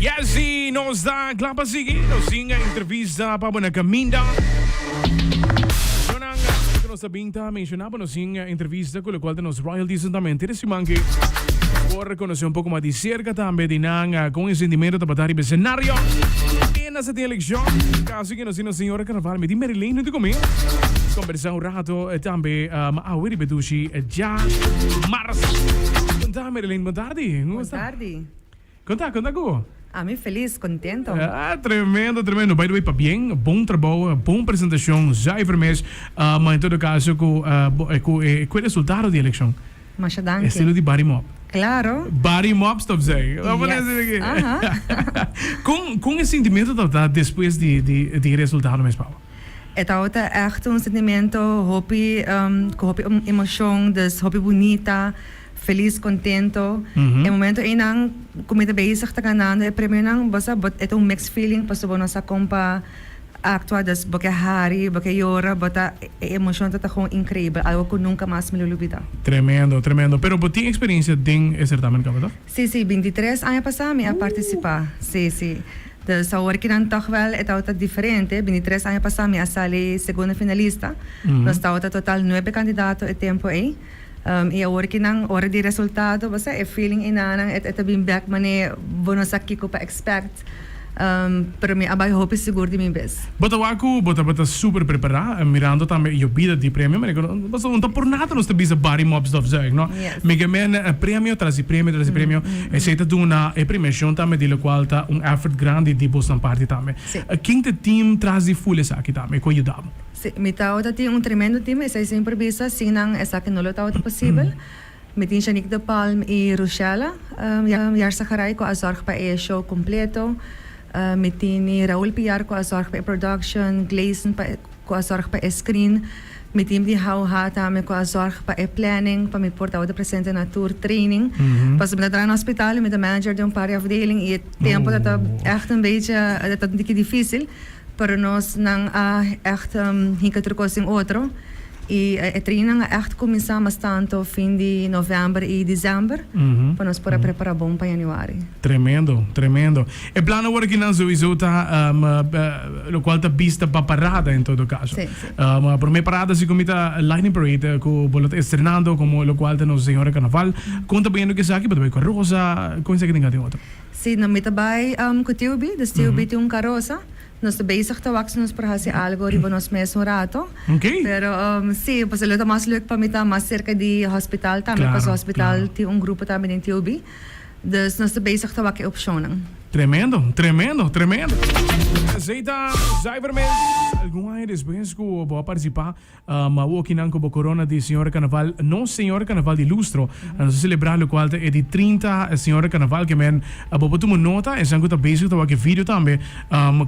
Yes y nos ta cla pa sigui nos singa entrevista pa bo na caminda. Yo nan gente cu nos ta bin ta menciona pa nos sin entrevista cu locual ta nos royalties en tamen tiri siman ki nos por conoce un poco mas di cerca tambe di nan con e sentimento ta bata riba escenario kende sa tin eleccion caso ki nos tin nos señora carnaval mi tin Mary Lane hunto cu mi conversa un rato tambe ma awe riba e dushi dja mars Mary Lane bon tardi como esta. Konta, konta ku. Ami felis, kontento. Tremendo, tremendo. By the way, pabien, bon trabou, bon presentashon, zuiver mes. Ma en todo kaso ku ku e ku e resultado di elekshon. Masha danki. Estilo di Barry Mop. Klaro. Barry Mop stop zay. Kon kon e sintimentu tabata despues di di di e resultado mes pa bo? E tabata ègt un sintimentu hopi ku hopi emoshon, dus hopi bunita. Feliz, contento. E momento eynan cu mi ta bezig ta ganando e premionan, bo sa, e ta un mixed feeling pasobra bo no sa con pa actua, dus bo ke hari, bo ke yora, bo ta, e emocion ta ta gewoon increibel, algo cu nunca mas mi lo lubida. Tremendo, tremendo. Pero bo tin experiencia den e certamen caba toch? Si, si, bintitres aña pasa mi a participa, si, si. Dus awor ki nan toch wel e tabata diferente, bintitres aña pasa mi a sali segunda finalista, nos tabata total nuebe candidato e tempo ey. I awor ki nan ora di resultado, bo sa, e feeling enanan e ta bin bek man'e bo no sa kiko pa expect, pero mi a bai hopi sigur di mi bes. Bo ta wak ku bo tabata super prepará, mirando tambe e yobida di premio, manera ku nos no ta por nada nos ta bisa Barry Mop Stofzuig, no? Mi ke men premio tras di premio tras di premio, esei ta duna e premiashon tambe di lokual ta un effort grandi di bosnan parti tambe. Ken ta team tras di ful esaki tambe ku a yuda bo? Si, mi tawata tin un tremendo team, esei semper bisa, sin nan esaki no lo tawata posibel. Mi tin Shanique de Palm i Rushella Yarzagaray ku a zòrg pa e show kompleto. Mi tin Raul Piar ku a zòrg pa e production, Gleison pa ku a zòrg pa e screen. Mi tin di Hau Ha tambe ku a zòrg pa e planning, pa mi por tawata presente na tur training. Pasobra mi ta traha na hospital i mi ta manager den un par di afdeling i e tempo ta ta ègt un beetje ta ta un tiki difísil. Pero nos nan a echt hinka tur kos den otro y e trainan a echt cuminsa mas tanto fin di november y december pa nos por a prepara bon pa januari. Tremendo, tremendo. E planan wor akinan sowiso ta lokual ta bista pa parada en todo caso. Prome parada si komi ta Lightning Parade ku bo lo ta estrenando komo lokual ta nos Señora Carnaval. Konta bayendo ku esaki, bo ta bay ku Rosa, ku esaki tin ka tin otro? Si nan mi ta bai ku tiu Bi, dus tiu Bi tin un karosa. Nos ta bezig ta wak si nos por hasi algu riba nos mes un rato. Pero si, pasobra lo ta mas lek pa mi ta mas serka di hospital tambe, pasobra hospital tin un grupo tambe den tiu Bi. Dus nos ta bezig ta wak e opshonnan. Tremendo, tremendo, tremendo! Esei ta Zuiver Mens. Algun aña despues ku bo a partisipa. Ma wokinan ku bo korona di Señor Karnaval, nos Señor Karnaval di Lustro, a nos a selebrá, lokual ta e di trinta Señor Karnaval kemen. Bo por tuma nota, esnan ku ta bezig ta wak e video tambe.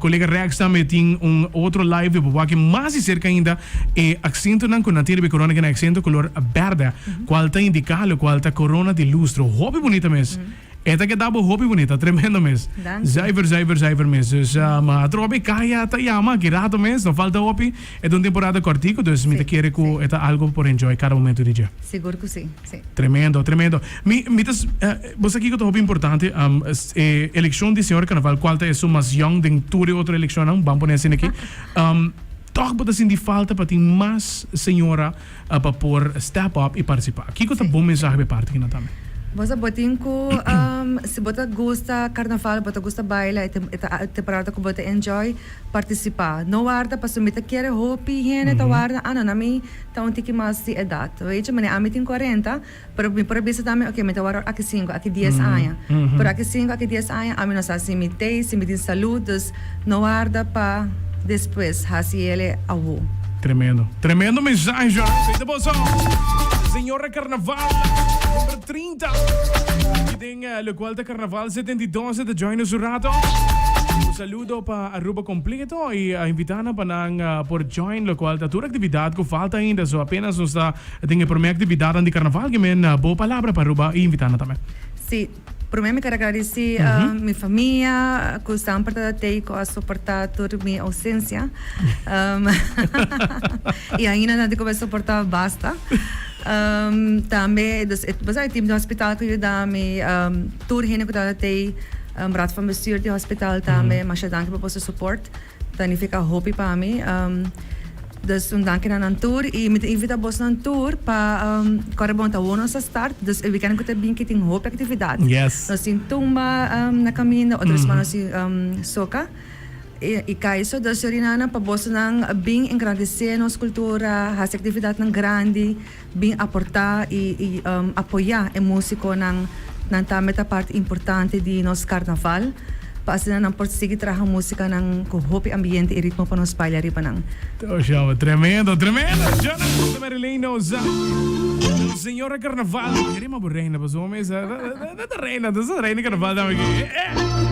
Kolega Rex tambe tin un otro live di bo wak mas di serka ainda e aksentonan ku nan tin riba e korona, ku e aksentonan kolor bèrdè, kual ta indiká lokual ta korona di lustro. Hopi bunita mes! E ta keda bo hopi bonito, ta tremendo mes. Zuiver, zuiver, zuiver mes. Dus atrobe Kaya ta yama aki rato mes, no falta hopi. E ta un temporada kortiku, dus mi ta kere ku e ta algo por enjoy kada momentu di dje. Sigur ku si, si. Tremendo, tremendo. Mi, mi ta, bo sa kiko ta hopi importante? E elekshon di señor Carnaval, kual ta e su mas yòn den tur e otro elekshonnan, ban pone asina aki. Tòg bo ta sinti falta pa tin mas señora pa por step up i partisipá. Kiko ta bon mensahe be parti kina tambe? Bo sa bo tin ku si bo ta gusta karnaval, bo ta gusta baila, e ta e temporada ku bo ta enjoy, partisipá. No warda pasobra mi ta kere hopi hende ta warda, ah no na mi ta un tiki mas di edat. Wechi? Manera ami tin kuarenta. Pero mi por a bisa tambe, oke, mi ta wòrdu aki sinku, aki dies aña. Pero aki sinku, aki dies aña ami no sa si mi t'ei, si mi tin salud. Dus, no warda pa despues, hasi el'e awo. Tremendo. Tremendo mensahe Joan. Sey ta bon so. Señora Carnaval number trinta aki den locual ta Carnaval setenta y dos e ta join nos un rato. Un saludo pa Aruba completo y a invita nan pa nan por join locual ta tur actividad cu falta ainda so apenas nos ta E tin e prome actividadnan di carnaval ki me na bo palabra pa Aruba y invitana tambe. Si, prome mi quier agradeci mi famia cu san porta tey cu a soporta tur mi ausencia y ainda nan dicube soporta basta. Tambe dus e bo sa e team di hospital cu yuda mi tur hende cu tabata tey raad van bestuur di hospital tambe masha danki pa boso support. Ta nifica hopi pa mi. Dus un danki na nan tur y mi ta invita bosnan tur pa core bon ta hono nos a start dus e weekend cu ta bin ki tin hopi actividad. Yes. Nos tin tumba na caminda otro sma nos tin soca y cay so dus Surinana pa bosnan bin engrandece nos cultura haci actividadnan grandi. bin aportá i apoyá e músikonan, nan tambe ta parti importante di nos karnaval, pa asina nan por sigui traha músikanan ku hopi ambiente i ritmo pa nos baila riba nan. To showman, tremendo, tremendo! Johnny Acosta Marilyn Noza, el señor karnaval. E ritmo por reina pa su hopi mesa. Ta ta reina, ta ta reina karnaval tambe aki. Eh, eh!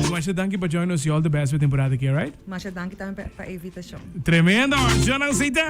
Masha danki pa join nos i all the best pa e temporada aki, alright? Masha danki tambe pa e invitashon. Tremendo! Jonan Seita.